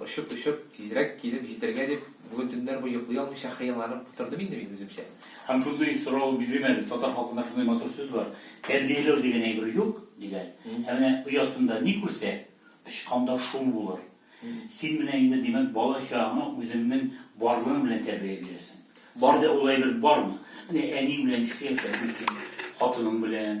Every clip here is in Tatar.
Очып-очып, тизрәк килеп җитәргә дип, бүген төннәр буе йоклый алмыйча хыялланып утырдым инде мин үземчә. Һәм шундый сорау бирдем әле, татар халкында шундый матур сүз бар, Тәрбияләү дигән әйбер юк, диләр. Ә менә оясында ни күрсә, очканда шул булыр. Син менә инде, димәк, бала-чагаңа үзеңнең барлыгың белән тәрбия бирәсең. Бар. Синдә ул әйбер бармы? Менә әниең белән ничек яшәрсең син, хатының белән,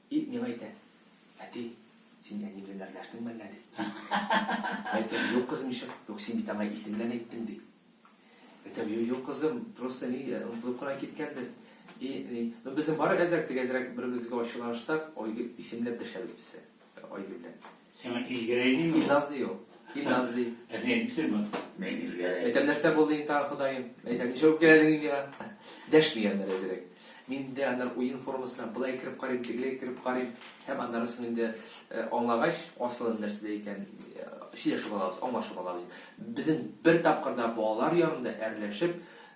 И миңа әйтә, Әти, син әни белән әрләштең мәллә, ди. Әйтәм, Юк, кызым, ничек? Юк, син бит аңа исем белән әйттең, ди. Әйтәм, Юк, юк, кызым, просто ни, онытылып кына киткәндер. И, ни, ну безнең бары әзрәк тигәзрәк бер-беребезгә ачуланышсак, Айгөл, исемләп дәшәбез без Айгөл белән. Сиңа Илгәрәй дими ул. Илназ ди ул. Илназ ди. Ә син әйтмисеңме? Мин Илгәрәй. Әйтәм, нәрсә булды инде тагы, Ходаем? Әйтәм, ничә үпкәләдең инде миңа? Дәшми аннары әзрәк. Мин инде аннары уен формасына былай кереп карыйм, тегеләй кереп карыйм. Һәм аннары соң инде аңлагач, асылын нәрсәдә икән, сөйләшеп алабыз, аңлашып алабыз. Безнең бер тапкыр да балалар янында әрләшеп,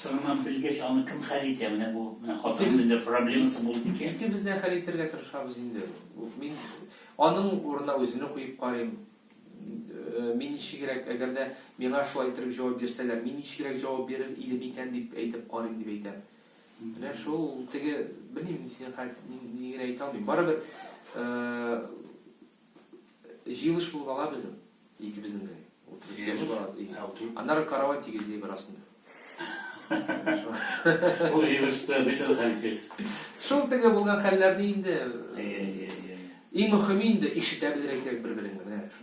Соңыннан белгәч, аны кем хәл итә? Менә бу, менә хатынның нинди проблемасы булды икән? Икебез дә хәл итәргә тырышабыз инде. Мин аның урынына үземне куеп карыйм. Мин ничегрәк, әгәр дә миңа шулай иттереп җавап бирсәләр, мин ничегрәк җавап бирер идем икән дип әйтеп карыйм, дип әйтәм. Менә шул теге, белмим, синең хәл, мин ни генә әйтә алмыйм. Барыбер, Җыелыш булып ала безнең, икебезнең генә. Утырып сөйләшеп ала. Аннары карават тигезли бер астында. Бу җыелышта ничә хәл итәсез? Шул теге булган хәлләрне инде. Иң мөхиме инде ишетә белергә кирәк бер-береңне, менә.